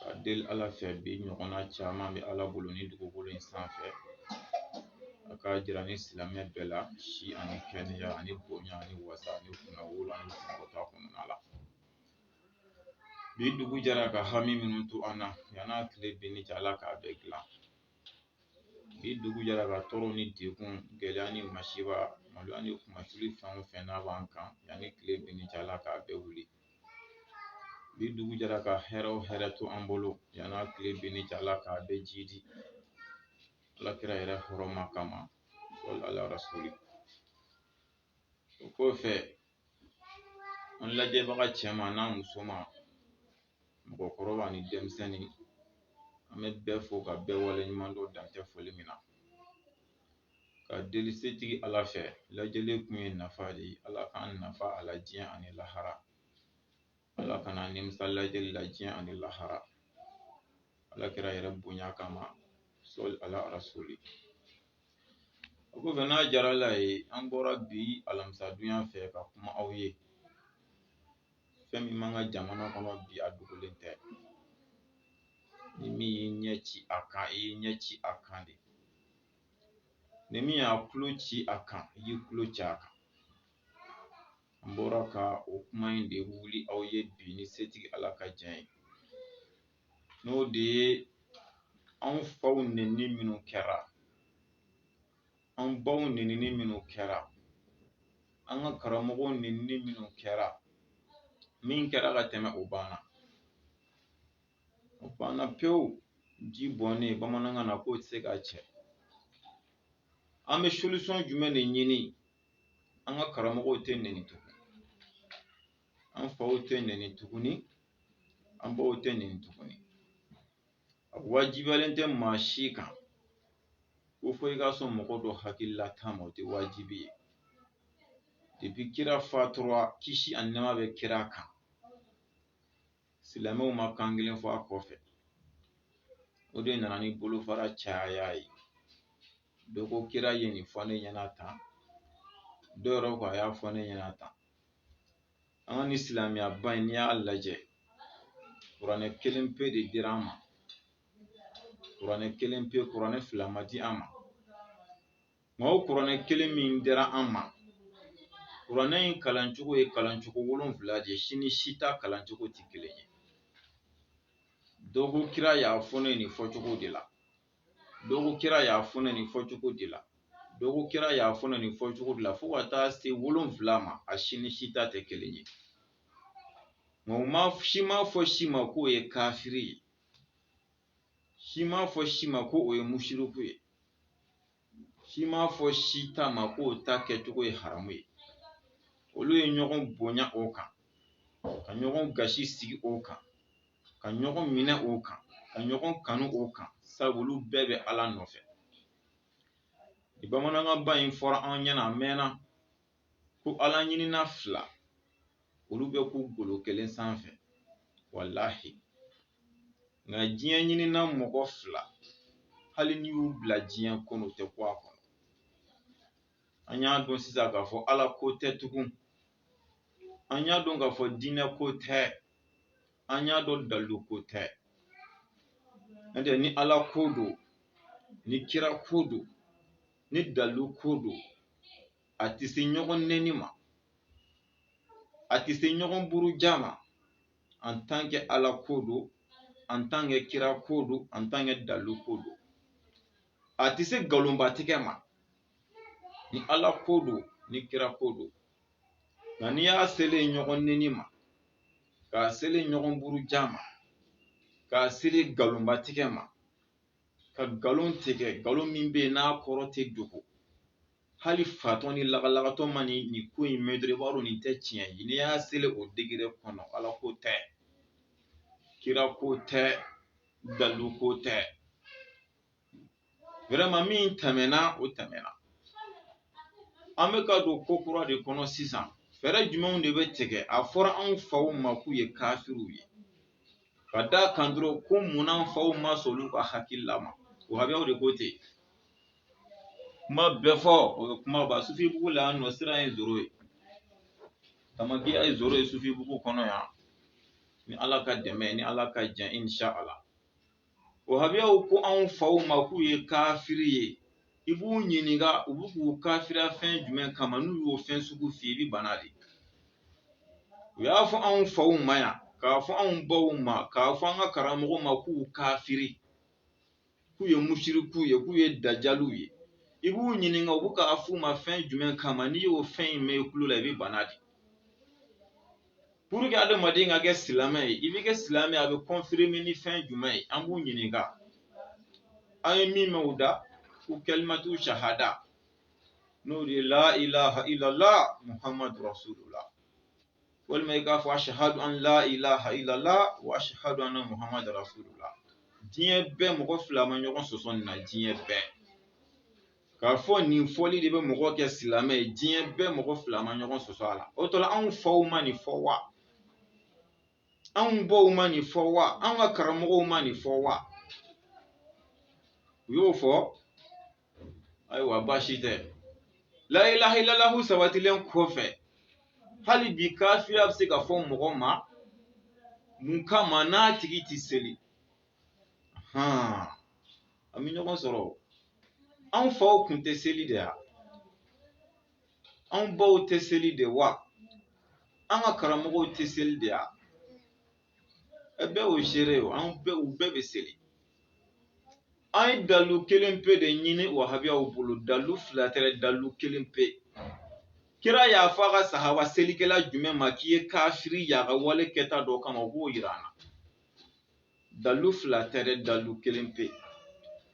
Ka deli Ala fɛ bi ɲɔgɔnna caman bɛ Ala bolo ni dugukolo in sanfɛ a k'a jira an ni silamɛ bɛɛ la si ani kɛnɛya ani bonya ani wasa ani kunnawolo ani sankɔrɔta kɔnɔna la bi dugu jɛra ka hami minnu to an na yan'a tile binni cɛ Ala k'a bɛɛ dilan bi dugu jɛra ka tɔɔrɔ ni degun gɛlɛya ni masiba maloya ni kunmasuli fɛn o fɛn n'a b'an kan yanni tile binni cɛ Ala k'a bɛɛ wuli bi dugu jɛra ka hɛrɛ o hɛrɛ to an bolo yan'a tile binni cɛ ala k'a bɛɛ jidi ala kira yɛrɛ hɔrɔma kama sɔli ala rasuli o kɔfɛ an lajɛbaga cɛman n'a musoman mɔgɔkɔrɔba ni denmisɛnnin an bɛ bɛɛ fo ka bɛɛ waleɲuman dɔn dantɛ foli min na ka deli setigi Ala fɛ lajɛli kun ye nafa de ye Ala k'an nafa a la diɲɛ ani lahara Ala kana an nimisa lajɛli la diɲɛ ani lahara Ala kira yɛrɛ bonya kama sɔli ala rasuli o kɔfɛ n'a diyara Ala ye an bɔra bi alamisadonya fɛ ka kuma aw ye fɛn min b'an ka jamana kɔnɔ bi a dogolen tɛ ni min y'i ɲɛ ci a kan i y'i ɲɛ ci a kan de ni min y'a tulo ci a kan i y'i tulo ci a kan an bɔra ka o kuma in de wuli aw ye bi ni setigi ala ka jɛn ye n'o de ye an faw nɛnini minnu kɛra an baw nɛnini minnu kɛra an ka karamɔgɔw nɛnini minnu kɛra min kɛra ka tɛmɛ o banna o banna pewu ji bɔnnen bamanankan na k'o tɛ se ka cɛ an bɛ solution jumɛn de ɲini an ka karamɔgɔw tɛ nɛni tugun an faw tɛ nɛni tuguni an baw tɛ nɛni tuguni a wajibiyalen tɛ maa si kan ko fo i ka sɔn mɔgɔ dɔ hakililata ma o tɛ wajibi ye depuis kira fatura kisi ani nɛɛma bɛ kira kan silamɛw ma kan kelen fɔ a kɔfɛ o de nana ni bolofara caya ye dɔ ko kira ye nin fɔ ne ɲɛna tan dɔ yɛrɛ ko a y'a fɔ ne ɲɛna tan an ka ni silamɛya ba in n'i y'a lajɛ kuranɛ kelen pe de dira an ma kuranɛ kelen pe kuranɛ fila ma di an ma Nka o kuranɛ kelen min dira an ma kuranɛ in kalancogo ye kalancogo wolonwula de ye si ni si ta kalancogo tɛ kelen ye dɔgɔkun kira y'a fɔ ne nin fɔcogo de la dɔgɔkun kira y'a fɔ ne nin fɔcogo de la dɔgɔkun kira y'a fɔ ne nin fɔcogo de la fo ka taa se wolonwula ma a si ni si ta tɛ kelen ye nka u ma si ma fɔ si ma k'o ye kafiri ye si ma fɔ si ma ko o ye musiriku ye si m'a fɔ si ta ma k'o ta kɛcogo ye haramu ye olu ye ɲɔgɔn bonya o kan ka ɲɔgɔn gasi sigi o kan ka ɲɔgɔn minɛ o kan ka ɲɔgɔn kanu o kan sabu olu bɛɛ bɛ ala nɔfɛ bamanankan ba in fɔra an ɲɛna a mɛnna ko ala ɲinina fila olu bɛ kun golo kelen sanfɛ walahi nka diɲɛ ɲinina mɔgɔ fila hali n'i y'u bila diɲɛ kɔnɔ u tɛ kun a kɔnɔ an y'a dɔn sisan k'a fɔ ala ko tɛ tugun an y'a dɔn k'a fɔ diinɛ ko tɛ an y'a dɔn dalilu ko tɛ n'o tɛ ni ala ko don ni kira ko don ni dalilu ko don a tɛ se ɲɔgɔn nɛni ma a tɛ se ɲɔgɔn buruja ma en tant que ala ko don en tant que kira ko don en tant que dalilu ko don a tɛ se nkalonbatigɛ ma ni ala ko don ni kira ko don nka n'i y'a selen ɲɔgɔn nɛni ma k'a selen ɲɔgɔn buruja ma k'a selen nkalonbatigɛ ma ka nkalon tigɛ nkalon min bɛ yen n'a kɔrɔ tɛ dogo hali fatɔ ni lagalagatɔ mana nin ko in mɛn dɔrɔn i b'a dɔn nin tɛ tiɲɛ ye n'i y'a selen o degré kɔnɔ ala ko tɛ kira ko tɛ dalilu ko tɛ vraiment min tɛmɛna o tɛmɛna an bɛ ka don ko kura de kɔnɔ sisan fɛɛrɛ jumɛnw de bɛ tigɛ a fɔra anw faw ma k'u ye kafiriw ye ka d'a kan dɔrɔn ko munna an faw ma sɔn olu ka hakilila ma wahabiyaw de ko ten kuma bɛɛ fɔ o ye kuma ba sufibugu la yan nɔ siran ye zéro ye tamakiya ye zéro ye sufibugu kɔnɔ yan ni ala ka dɛmɛ ni ala ka jɛn inshallah wahabiyaw ko anw faw ma k'u ye kafiri ye i b'u ɲininka u bɛ k'u kafiriya fɛn jumɛn kama n'u y'o fɛn sugu f'i ye i bɛ bana de u y'a fɔ anw faw ma yan k'a fɔ anw baw ma k'a fɔ an ka karamɔgɔw ma k'u kafiri k'u ye musirikuw ye k'u ye dajaliw ye i b'u ɲininka u bɛ k'a f'u ma fɛn jumɛn kama n'i y'o fɛn in mɛn i tulo la i bɛ bana de pour que adamaden ka kɛ silamɛ ye i bɛ kɛ silamɛ ye a bɛ kɔnfirime ni fɛn jumɛn ye an b'u ɲininka an ye min mɛn u da ko kalimatu sahada n'o de ye la ilaha illallah muhammadu rasulullah walima i k'a fɔ ashahadu an la ilaha illallah wa ashahadu anna muhammadu rasulullah diɲɛ bɛɛ mɔgɔ fila ma ɲɔgɔn sɔsɔ nin na diɲɛ bɛɛ k'a fɔ nin fɔli de bɛ mɔgɔ kɛ silamɛ ye diɲɛ bɛɛ mɔgɔ fila ma ɲɔgɔn sɔsɔ a la o tɔ la anw faw ma nin fɔ wa anw baw ma nin fɔ wa anw ka karamɔgɔw ma nin fɔ wa u y'o fɔ ayiwa baasi tɛ la ilaha illallah sabatilen kɔfɛ hali bi kafiriya bɛ se ka fɔ mɔgɔ ma mun kama n'a tigi tɛ seli an bɛ ɲɔgɔn sɔrɔ anw faw tun tɛ seli de wa anw baw tɛ seli de wa an ka karamɔgɔw tɛ seli de wa bɛɛ y'o seere ye an bɛɛ u bɛɛ bɛ seli an ye dalu kelen pe de ɲini wahabiyaw bolo dalu fila tɛ dalu kelen pe kira y'a fɔ a ka sahaba selikɛla jumɛn ma k'i ye kafiri y'a ka wale kɛta dɔ kama u b'o yira an na dalu fila tɛ dalu kelen pe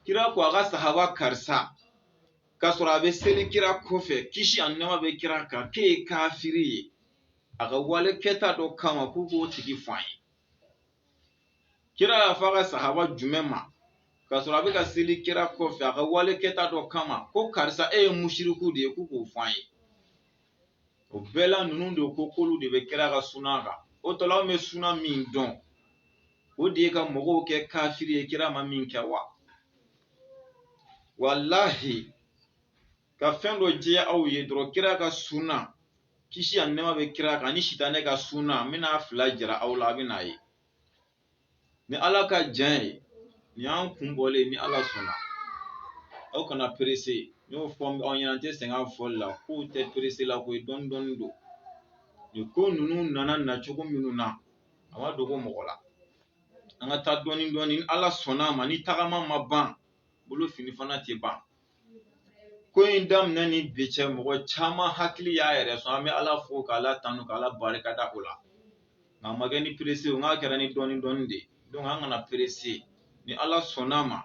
kira ko a ka sahaba karisa k'a sɔrɔ a bɛ seli kira kɔfɛ kisi ani nɛɛma bɛ kira kan k'e ye kafiri ye a ka wale kɛta dɔ kama k'u k'o tigi fɔ an ye kira y'a fɔ a ka sahaba jumɛn ma k'a sɔrɔ a bɛ ka seli kira kɔfɛ a ka wale kɛta dɔ kama ko karisa e ye musiriku de ye k'u k'o fɔ an ye o bɛɛ la ninnu de ko k'olu de bɛ kira ka suna kan o tɔ la anw bɛ suna min dɔn o de ye ka mɔgɔw kɛ kafiri ye kira ma min kɛ wa walahi ka fɛn dɔ jɛya aw ye dɔrɔn kira ka suna kisi ani nɛɛma bɛ kira kan ni sitanɛ ka suna n bɛna fila jira aw la a bɛ n'a ye ni ala ka jɛn ye nin y'an kun bɔlen ye ni ala sɔnna aw kana perese n y'o fɔ aw ɲɛna n tɛ sɛgɛn a fɔli la k'u tɛ perese la koyi dɔɔni dɔɔni don nin ko ninnu nana nacogo minnu na a ma dogo mɔgɔ la an ka taa dɔɔni dɔɔni ni ala sɔnna a ma ni tagama ma ban bolo fini fana tɛ ban ko in daminɛ ni bi cɛ mɔgɔ caman hakili y'a yɛrɛ sɔrɔ an bɛ ala fo k'ala tanu k'ala barika da o la nka a ma kɛ ni perese o nk'a kɛra ni dɔɔnin dɔɔnin de donc an kana perese ni ala sɔnna a ma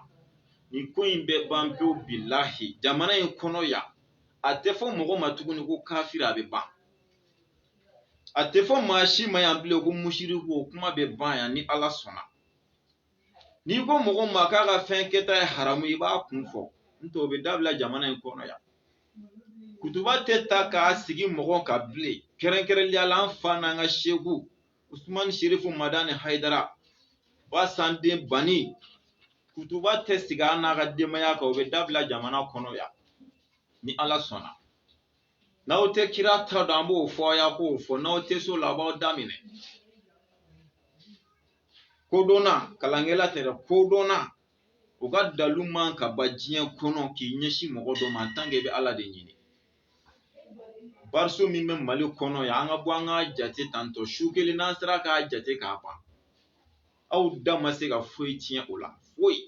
nin ko in bɛ ban pewu bilahi jamana in kɔnɔ yan a tɛ fɔ mɔgɔ ma tuguni ko kafiri a bɛ ban a tɛ fɔ maa si ma yan bilen ko musiriku o kuma bɛ ban yan ni ala sɔnna n'i ko mɔgɔ ma k'a ka fɛn kɛta ye haramu i b'a kun fɔ n'o tɛ o bɛ dabila jamana in kɔnɔ yan kutuba tɛ ta k'a sigi mɔgɔ kan bilen kɛrɛnkɛrɛnnenya la an fa n'an ka seku usumani serifu madani hayidara basan den bani kutuba tɛ sigi a n'a ka denbaya kan o bɛ dabila jamana kɔnɔ yan ni ala sɔnna n'aw tɛ kira ta dɔn an b'o fɔ aw y'a k'o fɔ n'aw tɛ s'o la a b'aw da minɛ kodɔnna kalankɛla tɛ dɛ kodɔnna u ka dalu man ka ban diɲɛ kɔnɔ k'i ɲɛsin mɔgɔ dɔ ma en tant que i bɛ ala de ɲini bariso min bɛ mali kɔnɔ yan an ka bɔ an k'a jate tantɔ su kelen n'an sera k'a jate k'a ban aw da ma se ka foyi tiɲɛ o la foyi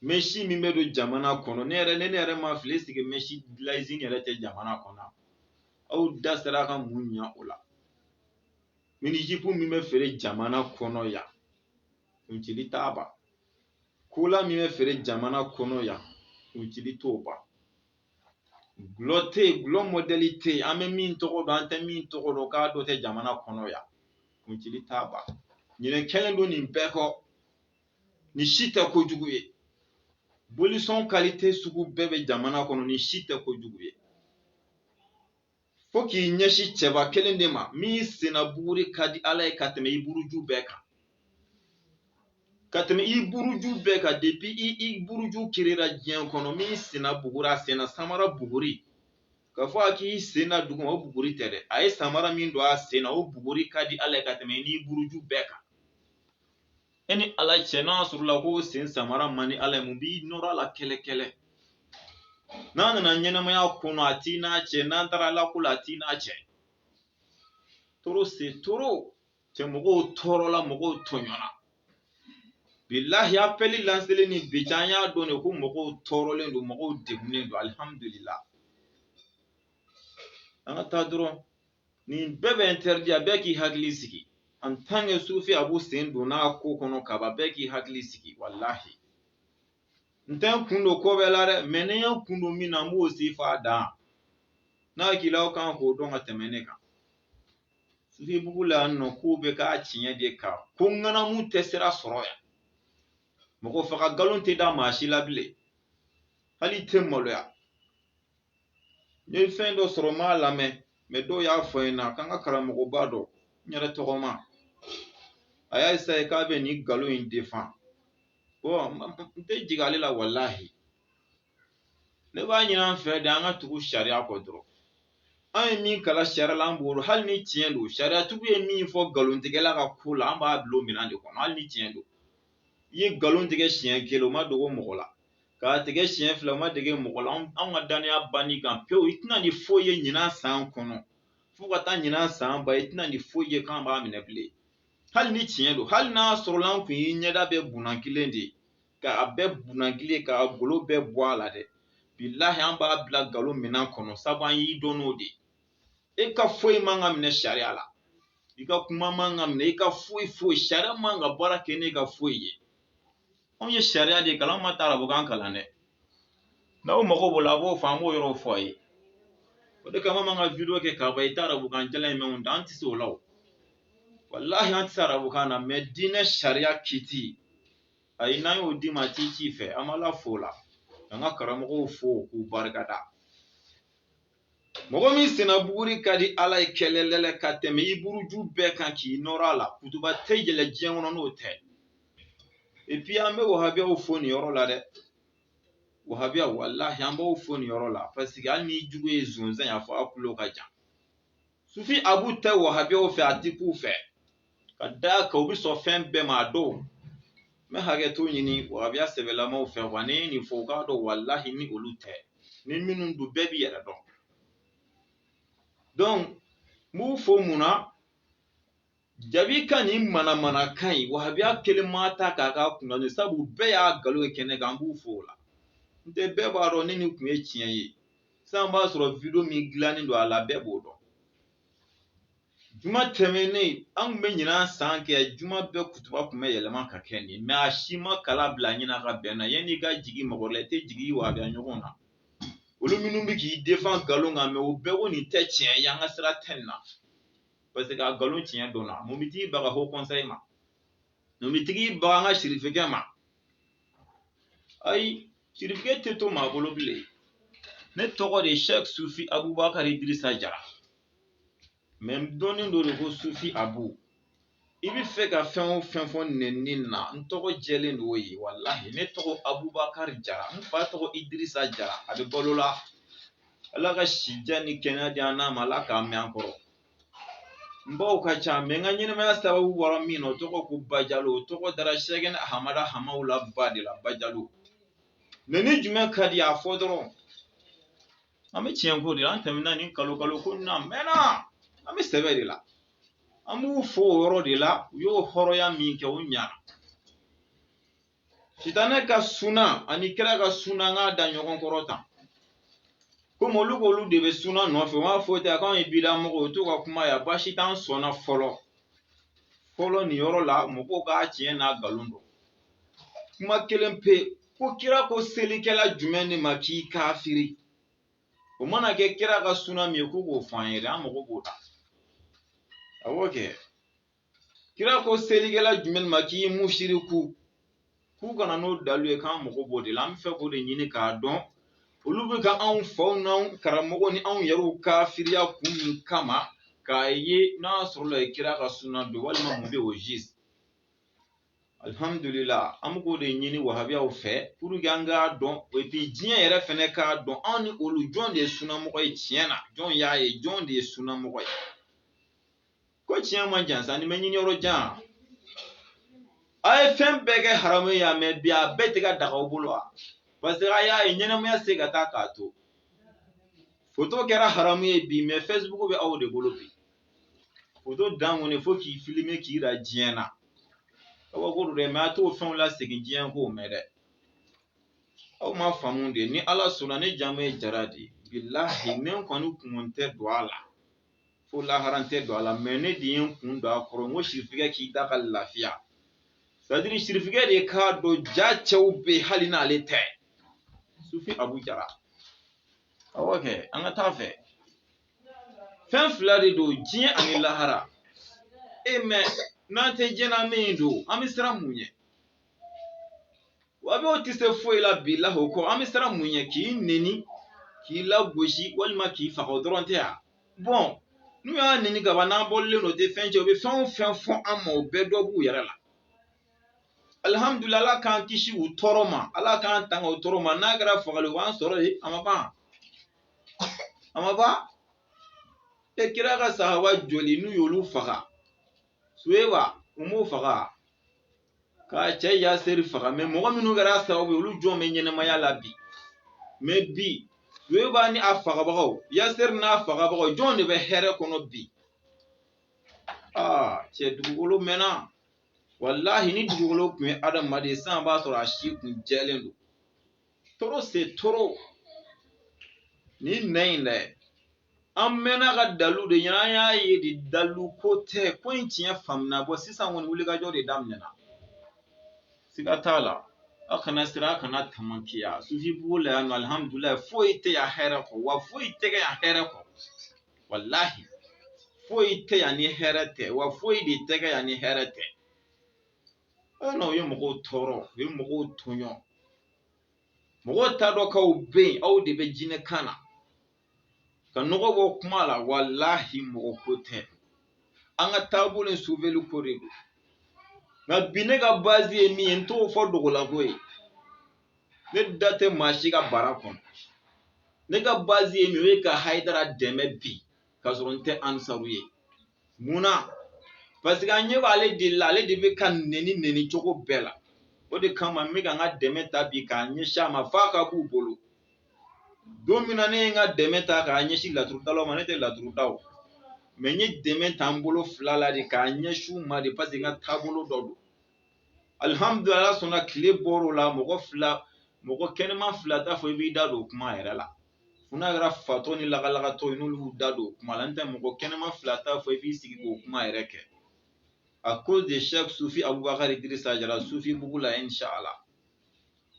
mɛsi min bɛ don jamana kɔnɔ ne yɛrɛ ne ne yɛrɛ ma fili sigi mɛsi dilan usine yɛrɛ tɛ jamana kɔnɔ aw da sera ka mun ɲɛ o la minijipu min bɛ feere jamana kɔnɔ yan kuncili t'a ban kola min bɛ feere jamana kɔnɔ yan kuncili t'o ban dɔlɔ tɛ yen dɔlɔ mɔdɛli tɛ yen an bɛ min tɔgɔ dɔn an tɛ min tɔgɔ dɔn k'a dɔ tɛ jamana kɔnɔ yan kuncili t'a ban ɲinɛ kɛlen don nin bɛɛ kɔ nin si tɛ kojugu ye bolisɔn kalite sugu bɛɛ bɛ jamana kɔnɔ nin si tɛ kojugu ye fo k'i ɲɛsin cɛba kelen de ma min senna buguri ka di ala ye ka tɛmɛ i buruju bɛɛ kan ka tɛmɛ i buruju bɛɛ kan depuis i buruju kirira diɲɛ kɔnɔ min senna buguri a senna samara buguri k'a fɔ a k'i sen da duguma o buguri tɛ dɛ a ye samara min don a sen na o buguri ka di ala ye ka tɛmɛ n'i buruju bɛɛ kan e ni ala cɛ n'a sɔrɔla k'o sen samara man di ala ye mun b'i nɔrɔ a la kɛlɛ kɛlɛ n'a nana ɲɛnamaya kɔnɔ a t'i n'a cɛ n'an taara ala ko la a t'i n'a cɛ trop c'est trop cɛ mɔgɔw tɔɔrɔla mɔgɔw tɔɲɔna bilahi apɛli lanselen ni bi cɛ an y'a dɔn de ko mɔgɔw tɔɔrɔlen don mɔgɔw degunnen don alihamudulila an ka taa dɔrɔn nin bɛɛ bɛ interdit a bɛɛ k'i hakili sigi en tant que sufi abu sen donna ko kɔnɔ kaba bɛɛ k'i hakili sigi walahi n tɛ n kun don ko bɛɛ la dɛ mais ni n ye n kun don min na n b'o se f'a dan n'a k'i la aw kan k'o dɔn ka tɛmɛ ne kan sufi bugu la yan nɔ k'u bɛ k'a tiɲɛ de kan ko ŋanamu tɛ sira sɔrɔ yan mɔgɔ faga nkalon tɛ da maa si la bilen hali tɛ maloya n ye fɛn dɔ sɔrɔ n m'a lamɛn mɛ dɔw y'a fɔ n ɲɛna k'an ka karamɔgɔba dɔ n yɛrɛ tɔgɔma a y'a esaye k'a bɛ nin nkalon in defan bɔn n tɛ jigin ale la walahi ne b'a ɲini an fɛ de an ka tugu sariya kɔ dɔrɔn an ye min kalan sariya la an b'o dɔn hali ni tiɲɛ don sariyatigiw ye min fɔ nkalontigɛla ka ko la an b'a bila o minɛn de kɔnɔ hali ni tiɲɛ don i ye nkalon tigɛ siɲɛ kelen o ma dogo mɔgɔ la k'a tigɛ siɲɛ fila o ma dogo mɔgɔ la anw ka danaya banni kan pewu i tɛ na ni foyi ye ɲinan san kɔnɔ fo ka taa ɲinan san ban i tɛ na ni foyi ye k'an b'a minɛ bilen hali ni tiɲɛ don hali n'a sɔrɔla an tun y'i ɲɛda bɛɛ bunakilen de ye k'a bɛɛ bunakilen k'a golo bɛɛ bɔ a la dɛ bilahi an b'a bila galo minan kɔnɔ sabu an y'i dɔn n'o de ye e ka foyi man ka minɛ sariya la i ka kuma man ka minɛ i ka foyi foyi sariya man ka baara kɛ n'e ka foyi ye anw ye sariya de kalan an ma taa arabukan kalan dɛ n'aw mago b'o la a b'o fɔ an b'o yɔrɔw fɔ a ye o de kama an ka video kɛ k'a ban i tɛ arabukan jalan in mɛn anw da an tɛ se o la o walahi an tɛ se arabukan na mɛ diinɛ sariya kiti ayi n'an y'o d'i ma a ti k'i fɛ an b'ala fo o la an ka karamɔgɔw fo k'u barika da mɔgɔ min senna buguri ka di ala ye kɛlɛlɛlɛ ka tɛmɛ i buruju bɛɛ kan k'i nɔrɔ a la kutuba tɛ yɛlɛ diɲɛ kɔnɔ n'o tɛ epi an bɛ wahabiyaw fo nin yɔrɔ la dɛ wahabiya walahi an b'aw fo nin yɔrɔ la paseke hali n'i jugu ye zonzan ye a fɔ a tulo ka jan sufi abu tɛ wahabiyaw fɛ a ti k'u fɛ ka d'a kan u bɛ sɔn fɛn bɛɛ ma a dɔw n bɛ hakɛto ɲini wahabiya sɛbɛlamaw fɛ wa ne ye nin fɔ u k'a dɔn walahi ni olu tɛ ni minnu don bɛɛ b'i yɛrɛ dɔn donc n b'u fo mun na jabi ka nin manamanakan in wahabiya kelen m'a ta k'a k'a kunna sabu bɛɛ y'a galo ye kɛnɛ kan n b'u fo o la n'o tɛ bɛɛ b'a dɔn ni nin tun ye tiɲɛ ye sisan b'a sɔrɔ video min dilannen don a la bɛɛ b'o dɔn juma tɛmɛnen an tun bɛ ɲinan san kɛ juma bɛɛ kutuba tun bɛ yɛlɛma ka kɛ nin mɛ a si ma kala bila ɲinan ka bɛn na yanni i ka jigin mɔgɔ la i tɛ jigin wahabiya ɲɔgɔn na olu minnu bɛ k'i defan nkalon kan mɛ o bɛɛ ko nin tɛ tiɲɛ ye an ka sira tɛ nin na parce que a nkalon tiɲɛ dɔnna mun bɛ tigi baga haut conseil ma mun bɛ tigi baga an ka sirifikɛ ma ayi sirifikɛ tɛ to maa bolo bilen ne tɔgɔ de ye sɛk sufi abubakari dirisa jara mɛ n dɔnnen don de ko sufi abu i bɛ fɛ ka fɛn o fɛn fɔ nɛnini na n tɔgɔ jɛlen don o ye walahi ne tɔgɔ abubakari jara n fa tɔgɔ idirisa jara a bɛ balo la ala ka sijan ni kɛnɛya di an n'a ma ala k'a mɛn an kɔrɔ n baw ka ca mɛ n ka ɲɛnamaya sababu bɔra min na o tɔgɔ ko bajalo o tɔgɔ dara sɛkina ahamada hamawula ba de la bajalo nɛni jumɛn ka di a fɔ dɔrɔn an bɛ tiɲɛ ko de la an tɛmɛna ni kalo kalo ko na mɛnna an bɛ sɛbɛ de la an b'u fo o yɔrɔ de la u y'o hɔrɔnya min kɛ o ɲana sitanɛ ka suna ani kira ka suna an k'a da ɲɔgɔn kɔrɔ tan komi olu k'olu de bɛ suna nɔfɛ u b'a fɔ ten a k'anw ye bidamɔgɔ u t'u ka kuma ye baasi t'an sɔnna fɔlɔ fɔlɔ nin yɔrɔ la mɔgɔw k'a tiɲɛ n'a nkalon dɔn kuma kelen pe ko kira ko selikɛla jumɛn de ma k'i kafiri o mana kɛ kira ka suna min ye k'u k'o fɔ an ye dɛ an mago b'o la awɔ kɛ kira ko selikɛla jumɛn ma k'i musiriku k'u kana n'o dalu ye k'an mago b'o de la an b'a fɛ k'o de ɲini k'a dɔn olu bɛ ka anw faw n'anw karamɔgɔ ni anw yɛrɛw kafiriya kun min kama k'a ye n'a sɔrɔla ye kira ka suna don walima mun bɛ o jisi alihamdulila an bɛ k'o de ɲini wahabiyaw fɛ pour que an k'a dɔn et puis diɲɛ yɛrɛ fɛnɛ k'a dɔn anw ni olu jɔn de ye sunamɔgɔ ye tiɲɛ na jɔn y'a ye jɔn de ye sunamɔgɔ ye ko tiɲɛ man jan sani i b'a ɲini yɔrɔ jan a ye fɛn bɛɛ kɛ haramu ye yan mɛ bi a bɛɛ tɛ ka daga aw bolo wa parce que a y'a ye ɲɛnamaya se ka taa k'a to foto kɛra haramu ye bi mɛ fɛsibuku bɛ aw de bolo bi foto dan kɔni fo k'i filime k'i jira diɲɛ na kabako don dɛ mɛ a t'o fɛnw lasegin diɲɛ k'o mɛn dɛ aw ma faamu de ni ala sɔnna ne jamu ye jara de bilahi ne kɔni kun tɛ don a la fo lahara n tɛ don a la mɛ ne de ye n kun don a kɔrɔ n ko sirifikɛ k'i da ka lafiya c'est-à-dire sirifikɛ de k'a dɔn ja cɛw bɛ hali n'ale tɛ sufi abu jara awɔ kɛ an ka taa fɛ fɛn fila de don diɲɛ ani lahara e mɛ n'an tɛ diɲɛ na min don an bɛ siran mun ɲɛ wahabiyaw tɛ se foyi la bilahi o kɔ an bɛ siran mun ɲɛ k'i neni k'i lagosi walima k'i faga o dɔrɔn tɛ yan bɔn n'u y'an neni ka ban n'an bɔlen don tɛ fɛn cɛ u bɛ fɛn o fɛn fɔ an ma o bɛɛ dɔ b'u yɛrɛ la alihamudulila ala k'an kisi u tɔɔrɔ ma ala k'an tanga u tɔɔrɔ ma n'a kɛra fagali o b'an sɔrɔ yen a ma ban a ma ban e kira ka sahaba joli n'u y'olu faga suweba u m'o faga k'a cɛ yaseri faga mɛ mɔgɔ minnu kɛra sababu ye olu jɔn bɛ ɲɛnamaya la bi mɛ bi suweba ni a fagabagaw yaseri n'a fagabagaw jɔn de bɛ hɛrɛ kɔnɔ bi aa cɛ dugukolo mɛnna walahi ni dugukolo tun ye adamaden san b'a sɔrɔ a si kun jɛlen don trop c'est trop ɲinan in dɛ an mɛnna ka dalu de ɲɛna an y'a ye de dalu ko tɛ ko in tiɲɛ faamuna bon sisan kɔni wulikajɔ de daminɛna siga t'a la a kana siran a kana tamakiya sufi bugu la yan nɔ alihamudulilayi foyi tɛ yan hɛrɛ kɔ wa foyi tɛ kɛ yan hɛrɛ kɔ walahi foyi tɛ yan ni hɛrɛ tɛ wa foyi de tɛ kɛ yan ni hɛrɛ tɛ An n'aw ye mɔgɔw tɔɔrɔ u ye mɔgɔw tɔɲɔ mɔgɔw t'a dɔn k'aw bɛ yen aw de bɛ jinɛ kan na ka nɔgɔ bɔ kuma la walahi mɔgɔ ko tɛ an ka taabolo in suveli ko de don nka bi ne ka base ye min ye n t'o fɔ dogo la koyi ne da tɛ maa si ka bara kɔnɔ ne ka base ye min ye ka hayidara dɛmɛ bi k'a sɔrɔ n tɛ ansaru ye mun na parce que an ɲɛ b'ale de la ale de bɛ ka nɛni nɛni cogo bɛɛ la o de kama n bɛ ka n ka dɛmɛ ta bi k'a ɲɛsin a ma f'a ka b'u bolo don min na ne ye n ka dɛmɛ ta k'a ɲɛsin laturudalaw ma ne tɛ laturu da o mais n ye dɛmɛ ta n bolo fila la de k'a ɲɛsin u ma de parce que n ka taabolo dɔ don alihamudulila sɔnna tile bɔr'o la mɔgɔ fila mɔgɔ kɛnɛman fila t'a fɔ i b'i da don o kuma yɛrɛ la fo n'a kɛra fatɔ ni lagalagatɔ ye n'olu y'u da don o kuma la n tɛ mɔgɔ kɛnɛman fila t'a fɔ i b'i sigi k'o kuma yɛrɛ kɛ à cause de shɛk sufi abubakari dirisa jara sufi bugu la inshala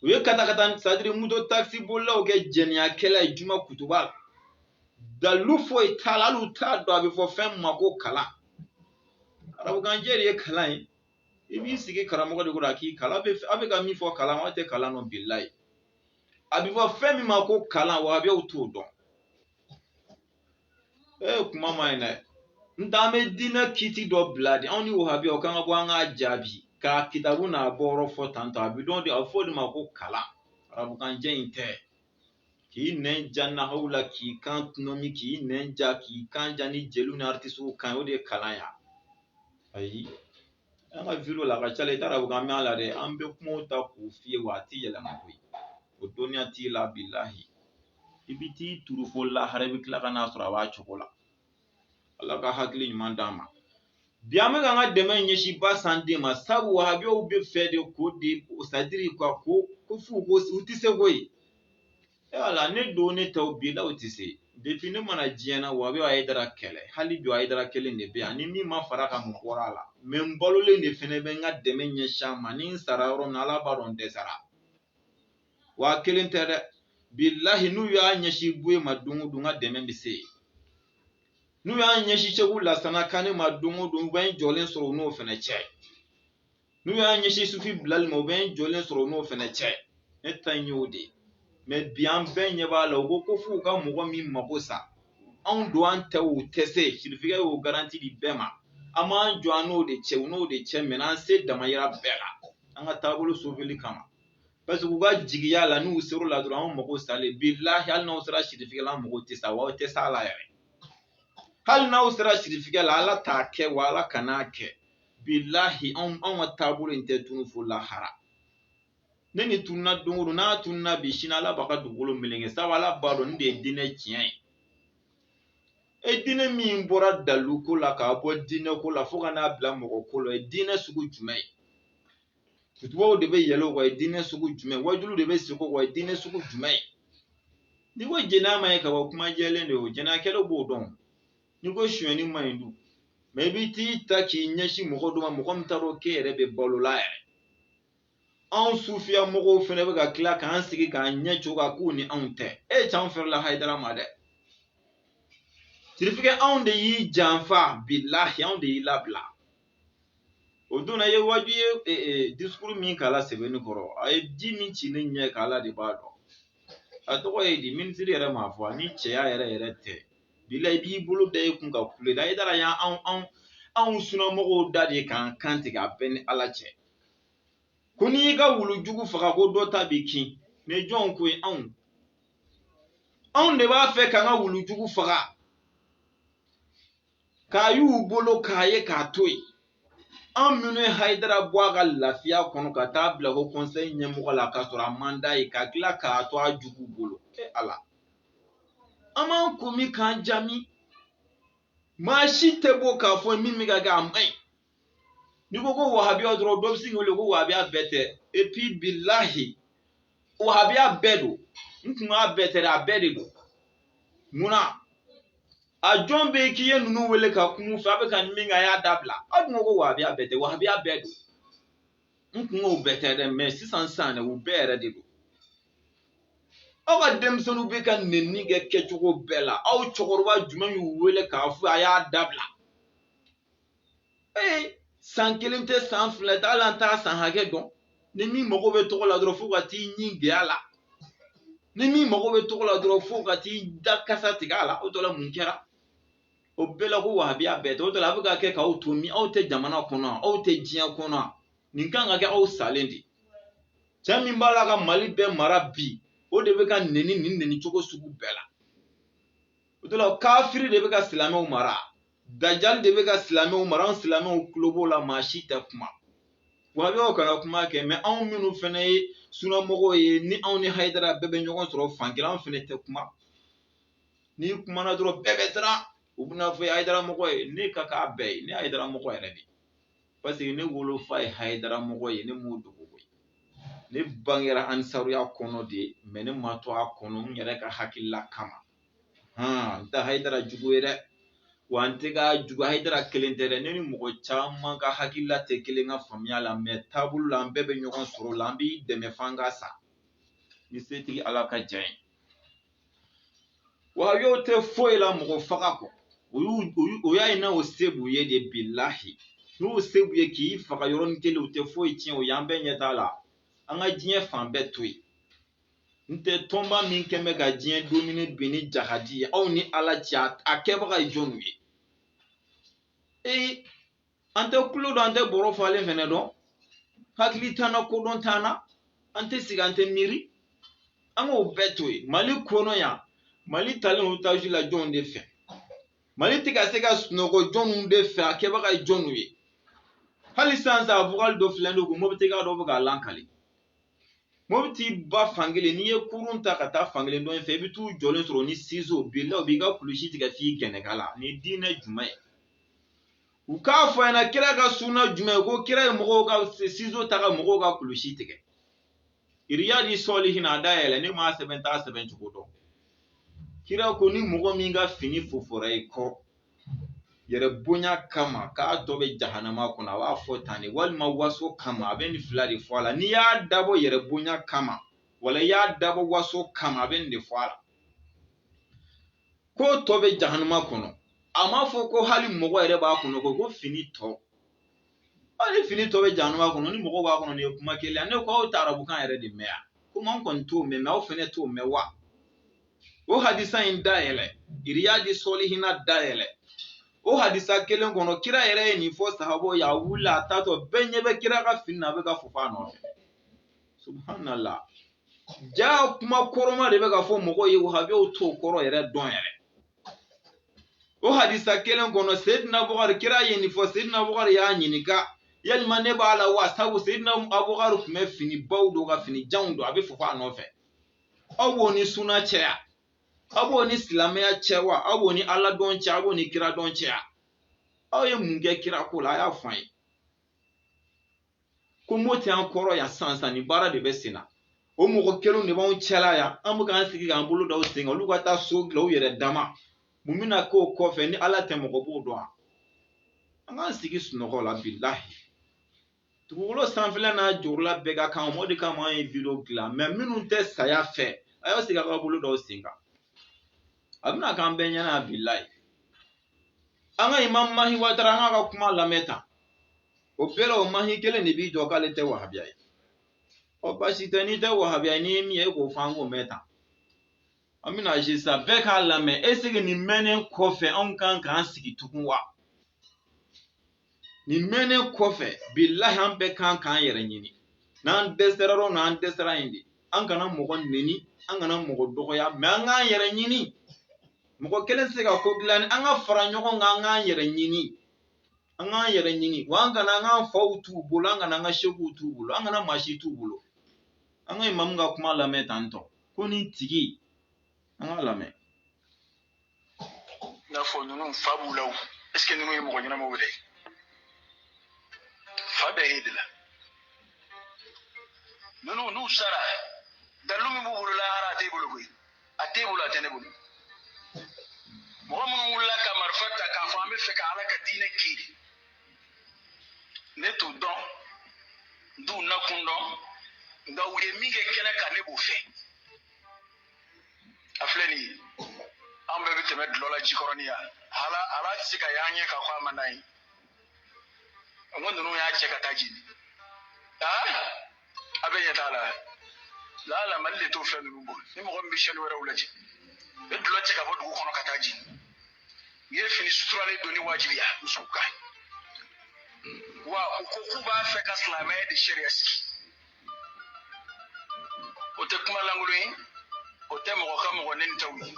u ye katakata c'est-à-dire moto takisi bolilaw kɛ jɛniyakɛla ye juma kutuba la dalu foyi t'a la hali u t'a dɔn a bɛ fɔ fɛn min ma ko kalan arabukanjɛ de ye kalan ye i b'i sigi karamɔgɔ de kɔrɔ a k'i kalan a bɛ ka min fɔ kalan aw tɛ kalan dɔn bilayi a bɛ fɔ fɛn min ma ko kalan wahabiyaw t'o dɔn ee kuma ma ɲi dɛ n t'an bɛ diinɛ kiti dɔ bila de anw ni wahabiyaw k'an ka bɔ an k'a jaabi k'a kitabu n'a bɔyɔrɔ fɔ tantɔ a bɛ dɔn de a bɛ fɔ o de ma ko kalan arabukan jɛ in tɛ k'i nɛn ja nahawu la k'i kan tɔnɔmi k'i nɛn ja k'i kan ja ni jeliw ni aritisiw kan o de ye kalan ya ayi an ka video la a ka ca la i t'a dɔn k'an bɛ a la dɛ an bɛ kumaw ta k'u f'i ye wa a tɛ yɛlɛma koyi o dɔnniya t'i la bilahi i bɛ t'i turu fo lahara i bɛ tila ka n'a sɔrɔ a b'a cogo la ala ka hakili ɲuman d'an ma bi an bɛ k'an ka dɛmɛ ɲɛsin basan den ma sabu wahabiyaw bɛ fɛ de ko de c'est-à-dire ka ko ko f'u ko u tɛ se koyi et voilà ne don ne tɛ u bila u tɛ se depuis ne ma na diɲɛ na wahabiyaw bɛ hayidara kɛlɛ hali bi hayidara kelen de bɛ yan ni min ma far'a kan mun bɔra a la mais n balolen de fɛnɛ bɛ n ka dɛmɛ ɲɛsin a ma ni n sara yɔrɔ min ala b'a dɔn n dɛsɛra w'a kelen tɛ dɛ bilahi n'u y'a ɲɛsin buye ma don o don n ka dɛmɛ bɛ se yen n'u y'a ɲɛsin segu lasana kane ma don o don u bɛ n jɔlen sɔrɔ u n'o fɛnɛ cɛ n'u y'a ɲɛsin sufi bilali ma u bɛ n jɔlen sɔrɔ u n'o fɛnɛ cɛ ne ta in y'o de ye mɛ bi an bɛɛ ɲɛ b'a la u ko ko f'u ka mɔgɔ min mako sa anw don an tɛ u tɛ se sirifikɛ y'o garanti di bɛɛ ma an b'an jɔ an n'o de cɛ u n'o de cɛ mɛ an se damayira bɛɛ la an ka taabolo soveli kama parce que u ka jigiya la n'u ser'o la dɔrɔn anw mago salen bilahi hali n'aw sera sirifikɛ la an mago tɛ sa wa aw tɛ s'a la yɛrɛ hali n'aw sera sirifikɛ la ala t'a kɛ wa ala kan'a kɛ bilahi anw anw ka taabolo in tɛ tunu fo lahara ni nin tununa don o don n'a tununa bi sini ala b'a ka dugukolo meleke sabu ala b'a dɔn nin de ye diinɛ tiɲɛ ye e diinɛ min bɔra dalu ko la k'a bɔ diinɛ ko la fo ka n'a bila mɔgɔ ko la o ye diinɛ sugu jumɛn ye kutubaw de bɛ yɛlɛ o kan o ye diinɛ sugu jumɛn ye wajuliw de bɛ sigi o kan o ye diinɛ sugu jumɛn ye n'i ko jɛnɛya man ɲi ka bɔ kuma jɛlen de ye o jɛnɛyakɛlaw b'o dɔn n'i ko sonyɛni man ɲi dun mɛ i bɛ t'i ta k'i ɲɛsin mɔgɔ dɔ ma mɔgɔ min t'a dɔn k'e yɛrɛ bɛ balo la yɛrɛ anw sufiya mɔgɔw fɛnɛ bɛ ka tila k'an sigi k'an ɲɛ cogo kan k'u ni anw tɛ e can fɛrɛla hayidara ma dɛ sirifikɛ anw de y'i janfa bilahi anw de y'i labila o don na i ye waaju ye e, e, disukuru min k'a la sebeninkɔrɔ a ye ji min ci ne ɲɛ kan ala de b'a dɔn a tɔgɔ ye di minisiri yɛrɛ m'a fɔ a ni ce yɛrɛ yɛrɛ tɛ bilahi i b'i bolo da i kun ka kule da hayidara y'an anw anw anw sunamɔgɔw da de k'an kan tigɛ a bɛ n ni ala cɛ ko n'i y'i ka wulu jugu faga ko dɔ ta b'i kin ne jɔnw ko ye anw anw de b'a fɛ k'an ka wulu jugu faga k'a y'u bolo k'a ye k'a to yen an minnu ye hayidara bɔ a ka lafiya kɔnɔ ka t'a bila ko kɔnsɛyi ɲɛmɔgɔ la k'a sɔrɔ a man d'a ye ka tila k'a to a jugu bolo e ala an b'an ko min k'an jaman maa si tɛ bɔ k'a fɔ min bɛ ka kɛ a man ɲi n'i ko ko wahabiya dɔrɔn dɔ bɛ sin k'i wele ko wahabiya bɛɛ tɛ epi bilahi wahabiya bɛɛ don n kun k'a bɛɛ tɛ dɛ a bɛɛ de don munna a jɔn bɛ k'i ye ninnu wele ka kum'u fɛ a bɛ ka min kɛ a y'a dabila aw dun ko ko wahabiya bɛɛ tɛ wahabiya bɛɛ don n kun k'u bɛɛ tɛ dɛ mɛ sisan sa dɛ u bɛɛ yɛrɛ de don aw ka denmisɛnninw bɛ ka nenni kɛ kɛcogo bɛɛ la aw cɛkɔrɔba jumɛn y'u wele k'a fɔ a y'a dabila ee san kelen tɛ san fila tɛ hali an t'a san hakɛ dɔn ni min mago bɛ tɔgɔ la dɔrɔn f'o ka t'i ɲin gɛn a la ni min mago bɛ tɔgɔ la dɔrɔn f'o ka t'i da kasa tigɛ a la o tɔ la mun kɛra o bɛɛ la ko wahabiya bɛɛ tɛ o tɔ la a bɛ ka kɛ k'aw to min aw tɛ jamana kɔnɔ aw tɛ diɲɛ kɔnɔ nin kan ka kɛ aw salen de cɛ min b'a la ka mali bɛɛ mara bi o de bɛ ka neni nin neni cogo sugu bɛɛ la o tɔ la kafiri de bɛ ka silamɛw mara dajali de bɛ ka silamɛw mara an silamɛw tulo b'o la maa si tɛ kuma wahabiyaw kana kuma kɛ mɛ anw minnu fɛnɛ ye sunamɔgɔw ye ni anw ni hayidara bɛɛ bɛ ɲɔgɔn sɔrɔ fan kelen anw fɛnɛ tɛ kuma n'i kumana dɔrɔn bɛɛ bɛ siran u bɛna fɔ hayidara mɔgɔ ye ne ka k'a bɛɛ ye ne hayidara mɔgɔ yɛrɛ de paseke ne wolofa ye hayidara mɔgɔ ye ne m'o dogo koyi ne bangera ansaruya kɔnɔ de mɛ ne ma to a kɔnɔ n yɛrɛ ka hakilila kama hɔn n tɛ hayidara jugu ye dɛ wa n tɛ ka jugu hayidara kelen tɛ dɛ ne ni mɔgɔ caman ka hakilila tɛ kelen ka faamuya la mɛ taabolo la an bɛɛ bɛ ɲɔgɔn sɔrɔ la an b'i dɛmɛ f'an ka sa ni setigi ala ka diya ye wahabiyaw tɛ foyi la mɔgɔ faga kɔ o y'u o y'a ye n'o se b'u ye de bilahi n'u se b'u ye k'i faga yɔrɔnin kelen u tɛ foyi tiɲɛ o y'an bɛɛ ɲɛ t'a la an ka diɲɛ fan bɛɛ to yen n tɛ tɔnba min kɛn bɛ ka diɲɛ domine bi ni jahadi ye aw ni ala cɛ a kɛbaga ye jɔnw ye ee an tɛ kulo dɔn an tɛ bɔrɔ falen fɛnɛ dɔn hakili t'an na kodɔn t'an na an tɛ sigi an tɛ miiri an k'o bɛɛ to yen mali kɔnɔ yan mali talen otaji la jɔnw de fɛ mali tɛ ka se ka sunɔgɔ jɔnw de fɛ a kɛbaga ye jɔnw ye hali sisan a vocal dɔ filɛ don ko mobitika dɔ bɛ k'a lakali mobiti ba fankelen n'i ye kurun ta ka taa fankelen dɔ in fɛ i bɛ t'u jɔlen sɔrɔ ni sizo bilahi u b'i ka kulusi tigɛ f'i gɛnɛkala nin diinɛ jumɛn ye u k'a fɔ an ɲɛna kira ka sunna jumɛn ko kira ye mɔgɔw ka sizo ta ka mɔgɔw ka kulusi tigɛ iriyadi sɔlihina dayɛlɛ ne m'a sɛbɛn n t'a sɛbɛn cogo dɔn kira ko ni mɔgɔ min ka fini fofora i kɔ yɛrɛ bonya kama k'a tɔ bɛ jahanama kɔnɔ a b'a fɔ tan de walima waso kama a bɛ nin fila de fɔ a la n'i y'a dabɔ yɛrɛ bonya kama wala i y'a dabɔ waso kama a bɛ nin de fɔ a la k'o tɔ bɛ jahanama kɔnɔ a m'a fɔ ko hali mɔgɔ yɛrɛ b'a kɔnɔ ko ko fini tɔ hali fini tɔ bɛ jahanama kɔnɔ ni mɔgɔ b'a kɔnɔ nin ye kuma kelen ne ko aw tɛ arabukan yɛrɛ de mɛn yan komi an kɔni t'o mɛn mɛ aw fɛnɛ t'o mɛn wa o hadisa in dayɛlɛ iriyadi sɔlihina dayɛlɛ o hadisa kelen kɔnɔ kira yɛrɛ ye nin fɔ sahabaw ye a wulila a taatɔ bɛɛ ɲɛ bɛ kira ka fini na a bɛ ka fofo a nɔfɛ subhanallah jaa kuma kɔrɔma de bɛ ka fɔ mɔgɔw ye wahabiyaw t'o kɔrɔ yɛrɛ dɔn yɛrɛ o hadisa kelen kɔnɔ sedina bukari kira ye nin fɔ sedina bukari y'a ɲininka yalima ne b'a la wa sabu sedina abukari tun bɛ fini baw don ka fini janw don a bɛ fofo a nɔfɛ aw b'o ni suna cɛya aw b'o ni silamɛya cɛ wa aw b'o ni ala dɔn cɛ aw b'o ni kira dɔn cɛya aw ye mun kɛ kira ko la a y'a fɔ an ye ko mo tɛ an kɔrɔ yan san san nin baara de bɛ sen na o mɔgɔ kelenw de b'anw cɛla yan an bɛ k'an sigi k'an bolo da u sen kan olu ka taa so dilan u yɛrɛ dama mun bɛna k'o kɔfɛ ni ala tɛ mɔgɔ b'o dɔn an k'an sigi sunɔgɔ la bilahi dugukolo sanfɛla n'a jukɔrɔla bɛɛ ka kan o de kama an ye video dilan mɛ minnu tɛ saya fɛ a y'aw sigi a k'aw bolo d'aw sen kan a bɛna k'an bɛɛ ɲɛna bilahi an ka imam mahi watara an k'a ka kuma lamɛn tan o bɛɛ la o mahi kelen de b'i jɔ k'ale tɛ wahabiya ye ɔ basi tɛ n'i tɛ wahabiya ye n'i ye min ye e k'o fɔ an k'o mɛn tan an bɛna sisan bɛɛ k'a lamɛn eseke nin mɛnnen kɔfɛ anw kan k'an sigi tugun wa nin mɛnnen kɔfɛ bilahi an bɛɛ kan k'an yɛrɛ ɲini n'an dɛsɛra yɔrɔ n'an dɛsɛra yen de an kana mɔgɔ neni an kana mɔgɔ dɔgɔya mɛ an k'an yɛrɛ ɲini mɔgɔ kelen tɛ se ka ko dilan ni an ka fara ɲɔgɔn kan an k'an yɛrɛ ɲini an k'an yɛrɛ ɲini wa an kana an k'an faw t'u bolo an kana an ka sekuw t'u bolo an kana maa si t'u bolo an ka imamu ka kuma lamɛn tan tɔ ko nin tigi an k'a lamɛn i n'a fɔ ninnu fa b'u la o ɛseke ninnu ye mɔgɔ ɲɛnamaw yɛrɛ ye fa bɛ e de la ninnu n'u sara dalilu min b'u bolo lahara a t'e bolo koyi a t'e bolo a tɛ ne bolo mɔgɔ minnu wulila ka marifa ta k'a fɔ an b'a fɛ ka ala ka diinɛ kiri ne t'u dɔn n t'u nakun dɔn nka u ye min kɛ kɛnɛ kan ne b'o fɛ a filɛ nin ye an bɛɛ bɛ tɛmɛ dulɔ la jikɔrɔni yan ala tɛ se k'a y'an ɲɛ k'a fɔ a man d'an ye nka ninnu y'a cɛ ka taa jeni aa a bɛ ɲɛ t'a la laala mali de t'o fɛn ninnu bɔ ni mɔgɔ min bɛ sɛni wɛrɛw lajɛ bɛ dulɔ cɛ ka bɔ dugu kɔnɔ ka taa jeni u ye fini suturalen donni wajibiya musow kan wa u ko k'u b'a fɛ ka silamɛya de sariya sigi o tɛ kuma lankolon ye o tɛ mɔgɔ ka mɔgɔ neni taw ye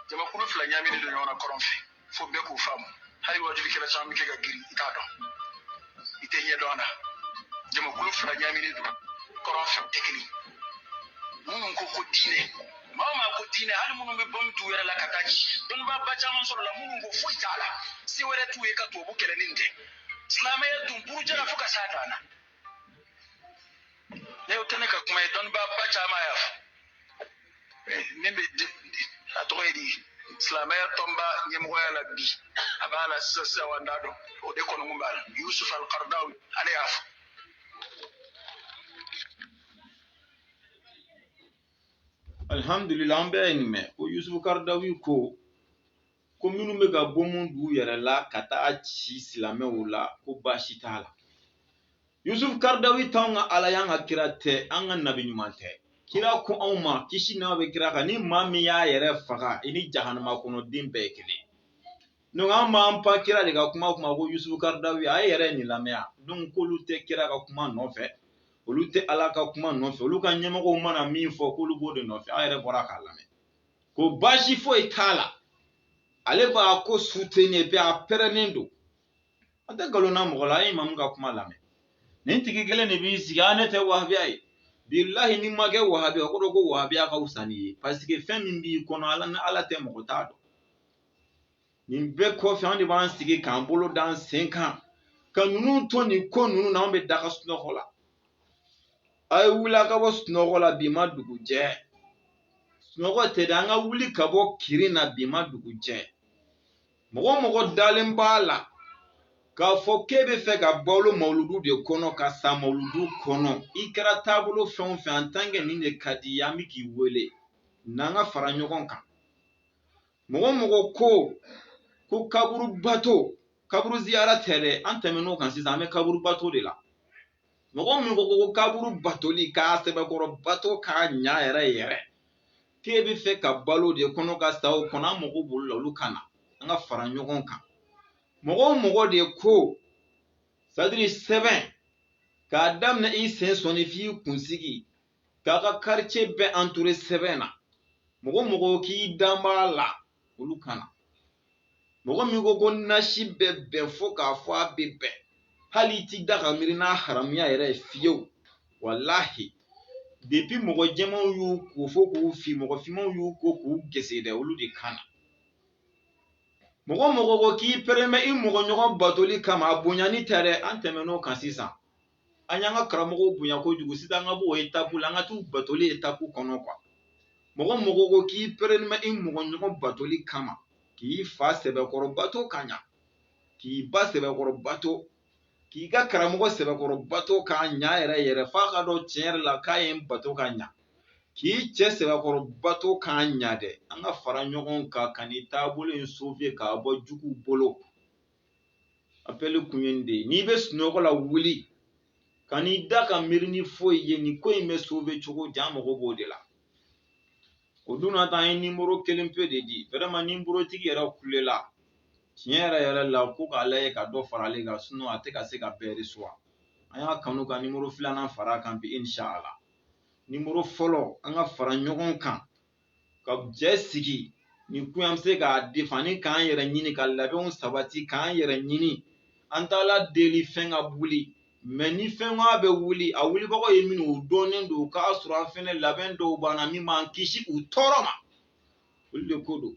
jamakulu fila ɲaaminen don ɲɔgɔn na kɔrɔn fɛ fo bɛɛ k'u faamu hali wajulikɛla caman bɛ kɛ ka girin i t'a dɔn i tɛ ɲɛ dɔn a la jamakulu fila ɲaaminen don kɔrɔn fɛ tɛ kelen minnu ko ko diinɛ maa maa ko diinɛ hali minnu bɛ bɔnbu t'u yɛrɛ la ka taa ci dɔnnibaaba caman sɔrɔla minnu ko foyi t'a la se wɛrɛ t'u ye ka tubabu kɛlɛ ni tɛ silamɛya dun burujara fo ka s'a dan na ne o tɛ ne ka kuma ye dɔnnibaaba caman y'a fɔ min bɛ a tɔgɔ ye di silamɛya tɔnba ɲɛmɔgɔya la bi a b'a la sisan sisan wa n t'a dɔn o de kɔni kun b'a la yusuf alkardawi ale y'a fɔ alhamdulillah an bɛɛ ye nin mɛn ko yusufu karadawi ko ko minnu bɛ ka bomu d'u yɛrɛ la ka taa ci silamɛw la ko baasi t'a la yusufu karadawi t'anw ka ala y'an ka kira tɛ an ka nabi ɲuman tɛ kira ko anw ma kisi nɛɛma bɛ kira kan ni maa min y'a yɛrɛ faga i ni jahanama kɔnɔ den bɛɛ ye kelen donc an b'an pan kira de ka kuma kunna ko yusufu karadawi a ye yɛrɛ nin lamɛn yan donc k'olu tɛ kira ka kuma nɔfɛ olu tɛ ala ka kuma nɔfɛ olu ka ɲɛmɔgɔw mana min fɔ k'olu b'o de nɔfɛ an yɛrɛ bɔra k'a lamɛn ko baasi foyi t'a la ale b'a ko soutenir et puis a pɛrɛnnen don an tɛ nkalon da mɔgɔ la an ye imamu ka kuma lamɛn nin tigi kelen de b'i sigi a ne tɛ wahabiya ye bilahi n'i ma kɛ wahabiya k'a dɔn ko wahabiya ka wusa n'i ye parce que fɛn min b'i kɔnɔ ala ni ala tɛ mɔgɔ t'a dɔn nin bɛɛ kɔfɛ an de b'an sigi k'an bolo da an sen kan ka ninnu to nin ko ninnu na an bɛ daga sunɔgɔ la a ye wuli a ka bɔ sunɔgɔ la bi ma dugu jɛ sunɔgɔ tɛ dɛ an ka wuli ka bɔ kirin na bi ma dugu jɛ mɔgɔ mɔgɔ dalen b'a la k'a fɔ k'e bɛ fɛ ka balo mawuludu de kɔnɔ ka sa mawuludu kɔnɔ i kɛra taabolo fɛn o fɛn en tant que nin de ka d'i ye an bɛ k'i wele n'an ka fara ɲɔgɔn kan mɔgɔ mɔgɔ ko ko kaburubato kaburu ziyara tɛ dɛ an tɛmɛn'o kan sisan an bɛ kaburubato de la mɔgɔ min ko ko kaburu batoli k'a sɛbɛkɔrɔ bato k'a ɲa yɛrɛ yɛrɛ k'e bɛ fɛ ka balo o de kɔnɔ ka sa o kɔnɔ an mago b'olu la olu ka na an ka fara ɲɔgɔn kan mɔgɔ o mɔgɔ de ko sadiri sɛbɛn k'a daminɛ i sen sɔnni f'i kunsigi k'a ka quartier bɛɛ entouré sɛbɛn na mɔgɔ mɔgɔ k'i dan b'a la olu ka na mɔgɔ min ko ko nasi bɛ bɛn fo k'a fɔ a bɛ bɛn hali i ti da ka miiri n'a haramuya yɛrɛ ye fiyewu walahi depuis mɔgɔ jɛmanw y'u ko fo k'u fin mɔgɔ finmanw y'u ko k'u gese dɛ olu de ka na mɔgɔ mɔgɔ ko k'i pɛrɛnen bɛ i mɔgɔ ɲɔgɔn batoli kama a bonyani tɛ dɛ an tɛmɛn'o kan sisan an y'an ka karamɔgɔw bonya kojugu sisan an ka b'o etapu la an ka t'u batoli etapu kɔnɔ quoi mɔgɔ mɔgɔ ko k'i pɛrɛnen bɛ i mɔgɔ ɲɔgɔn batoli kama k'i fa sɛbɛkɔrɔ bato ka ɲa k'i ba sɛbɛkɔrɔ bato k'i ka karamɔgɔ sɛbɛkɔrɔ bato k'a ɲa yɛrɛ yɛrɛ f'a k'a dɔn tiɲɛ yɛrɛ la k'a ye n bato ka ɲa k'i cɛ sɛbɛkɔrɔ bato k'a ɲa dɛ an ka fara ɲɔgɔn kan ka nin taabolo in sauver k'a bɔ juguw bolo apɛli kun ye nin de ye n'i bɛ sunɔgɔ la wuli kan'i da ka miiri ni foyi ye nin ko in bɛ sauver cogo di an mago b'o de la o dun na tan an ye nimoro kelen pe de di vraiment nimorotigi yɛrɛ kulela tiɲɛ yɛrɛ yɛrɛ la ko k'a lajɛ ka dɔ fara ale kan sinɔn a tɛ ka se ka bɛɛ recevoir an y'a kanu ka nimoro filanan fara a kan bi inshala nimoro fɔlɔ an ka fara ɲɔgɔn kan ka jɛ sigi nin kun an bɛ se k'a defani k'an yɛrɛ ɲini ka labɛnw sabati k'an yɛrɛ ɲini an t'ala deli fɛn ka wuli mɛ ni fɛn bɛ wuli a wulibagaw ye minnu o dɔnnen don k'a sɔrɔ an fana labɛn dɔw banna min b'an kisi u tɔɔrɔ ma olu de ko don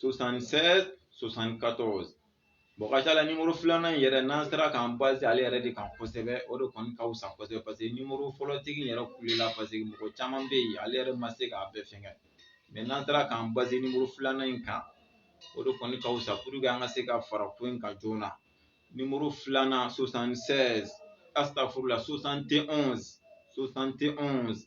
76 74 bon ka ca la nimoro filanan in yɛrɛ n'an sera k'an base ale yɛrɛ de kan kosɛbɛ o de kɔni ka wusa kosɛbɛ paseke nimoro fɔlɔtigi yɛrɛ kulela paseke mɔgɔ caman bɛ yen ale yɛrɛ ma se k'a bɛɛ fɛngɛ mɛ n'an sera k'an base nimoro filanan in kan o de kɔni ka wusa puruke an ka se ka fara ko in kan joona nimoro filanan 76 astafurula 71 71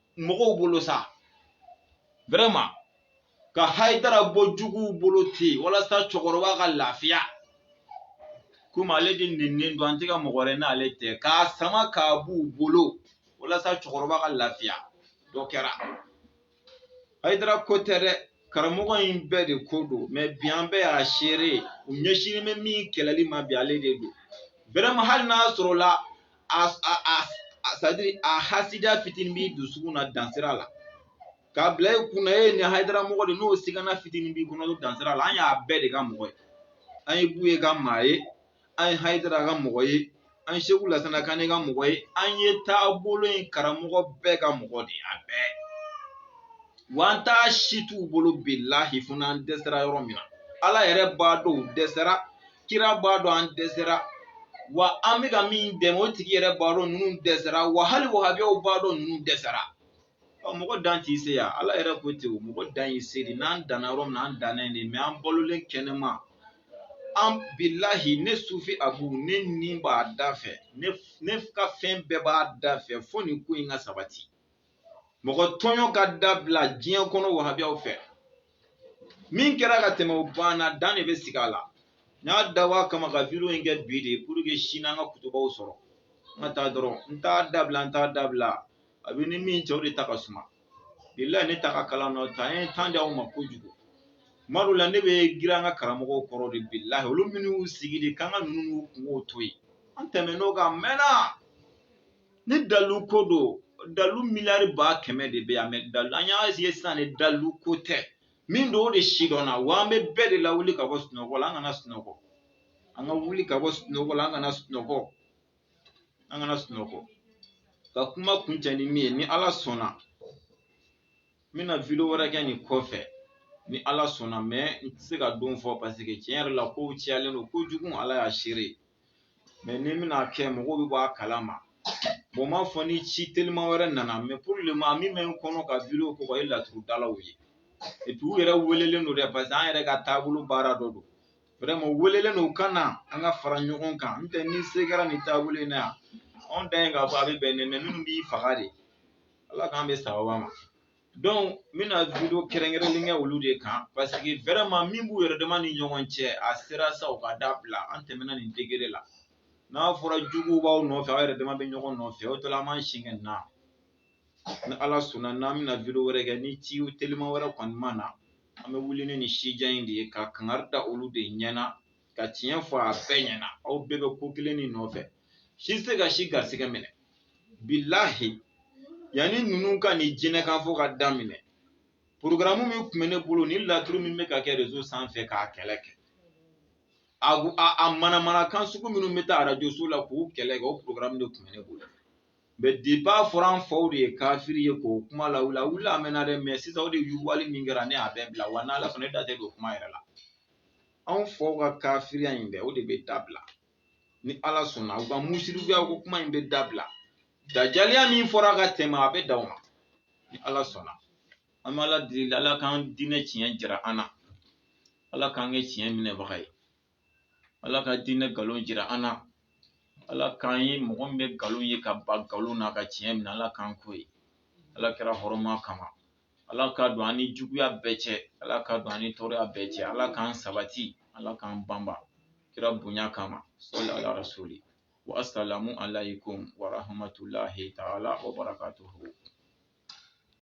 mɔgɔw bolo sa vraiment ka hayidara bɔ juguw bolo ten walasa cɛkɔrɔba ka lafiya komi ale de nennen don an tɛ ka mɔgɔ wɛrɛ n'ale tɛ k'a sama k'a b'u bolo walasa cɛkɔrɔba ka lafiya dɔ kɛra hayidara ko tɛ dɛ karamɔgɔ in bɛɛ de ko don mɛ bi an bɛɛ y'a seere u ɲɛsinnen bɛ min kɛlɛli ma bi ale de don vraiment hali n'a sɔrɔla a a a sadiri a hasidiya fitinin b'i dusukun na dansira la k'a bila i kunna e nin hayidara mɔgɔ de n'o sigana fitinin b'i kɔnɔ dansira la an y'a bɛɛ de ka mɔgɔ ye an ye buye ka maa ye an ye hayidara ka mɔgɔ ye an segu lasana kane ka mɔgɔ ye an ye taabolo in karamɔgɔ bɛɛ ka mɔgɔ de a bɛɛ wa an t'a si t'u bolo bilahi fo n'an dɛsɛra yɔrɔ min na ala yɛrɛ b'a dɔn u dɛsɛra kira b'a dɔn an dɛsɛra wa an bɛ ka min dɛmɛ o tigi yɛrɛ b'a dɔn ninnu dɛsɛra wa hali wahabiyaw b'a dɔn ninnu dɛsɛra Ɔ mɔgɔ dan t'i se yan ala yɛrɛ ko ten o mɔgɔ dan y'i se de n'an danna yɔrɔ min na an danna yen de mɛ an balolen kɛnɛman bilahi ne sufi abu ne ni b'a da fɛ ne ne ka fɛn bɛɛ b'a da fɛ fo nin ko in ka sabati mɔgɔ tɔɲɔ ka dabila diɲɛ kɔnɔ wahabiyaw fɛ min kɛra ka tɛmɛ o banna dan de bɛ sigi a la n y'a dabɔ a kama ka video in kɛ bi de pour que sini an ka kutubaw sɔrɔ n ka taa dɔrɔn n t'a dabila n t'a dabila a bɛ ni min cɛ o de ta ka suma bilahi ne ta ka kalan n'o tɛ an ye tan di aw ma kojugu tuma dɔw la ne bɛ girin an ka karamɔgɔw kɔrɔ de bilahi olu minnu y'u sigi de k'an ka ninnu n'u kungow to yen an tɛmɛn'o kan mɛnna ni dalu ko don dalu miliyari ba kɛmɛ de bɛ yan mɛ dalu an y'a ye sisan de dalu ko tɛ min don o de si dɔnna wa an bɛ bɛɛ de lawuli ka bɔ sunɔgɔ la an kana sunɔgɔ an ka wuli ka bɔ sunɔgɔ la an kana sunɔgɔ an kana sunɔgɔ ka kuma kuncɛ ni min ye ni ala sɔnna n bɛna video wɛrɛ kɛ nin kɔfɛ ni ala sɔnna mɛ n tɛ se ka don fɔ paseke tiɲɛ yɛrɛ la kow cayalen don kojugu ala y'a seere mɛ ni n bɛna a kɛ mɔgɔw bɛ bɔ a kala ma bon m'a fɔ ni ci telima wɛrɛ nana mɛ pour le moment min bɛ n kɔnɔ ka video kɛ o ye laturudalaw ye e u yɛrɛ welelen don dɛ parce que an yɛrɛ ka taabolo baara dɔ don vraiment welelen don ka na an ka fara ɲɔgɔn kan n tɛ ni se kɛra nin taabolo in na yan anw dan ye k'a fɔ a bɛ bɛn ne mɛ minnu b'i faga de ala k'an bɛ saba ma donc n bɛna video kɛrɛnkɛrɛnlen kɛ olu de kan paseke vraiment min b'u yɛrɛ dama ni ɲɔgɔn cɛ a sera sa u k'a dabila an tɛmɛna nin degré la n'a fɔra juguw b'aw nɔfɛ aw yɛrɛ dama bɛ ɲɔgɔn nɔfɛ o tɔla an b'an sin kɛ na ni ala sɔnna n'an bɛna video wɛrɛ kɛ ni ci telima wɛrɛ kɔni ma na an bɛ wuli ni nin sujet in de ye ka kangari da olu de ɲɛna ka tiɲɛ fɔ a bɛɛ ɲɛna aw bɛɛ bɛ ko kelen nin nɔfɛ si tɛ se ka si garisɛgɛ minɛ bilahi yanni ninnu ka nin jinɛ kan fɔ ka daminɛ porogaramu min tun bɛ ne bolo ni laturu min bɛ ka kɛ rezo sanfɛ k'a kɛlɛ kɛ a a manamana kan sugu minnu bɛ taa arajo so la k'u kɛlɛ kɛ o porogaramu de tun bɛ ne bolo mɛ depi a fɔra an faw de ye kafiri ye k'o kuma lawuli a wuli a mɛnna dɛ mɛ sisan o de yugubali min kɛra ne y'a bɛɛ bila wa n'ala sɔnna ne da tɛ don kuma yɛrɛ la anw faw ka kafiriya in bɛɛ o de bɛ dabila ni ala sɔnna u ka musirikiya ko kuma in bɛ dabila dajaliya min fɔra ka tɛmɛ a bɛ dan o ma ni ala sɔnna an bɛ ala deli ala k'an diinɛ tiɲɛ jira an na ala k'an kɛ tiɲɛ minɛbaga ye ala k'an diinɛ nkalon jira an na ala k'an ye mɔgɔ min bɛ nkalon ye ka ban nkalon na ka tiɲɛ minɛ ala k'an k'o ye ala kira hɔrɔma kama ala ka don an ni juguya bɛɛ cɛ ala ka don an ni tɔɔrɔya bɛɛ cɛ ala k'an sabati ala k'an banba kira bonya kama sɔli ala rasuli wa asalamu alaykum wa rahmatulahi taala wa barakatuhu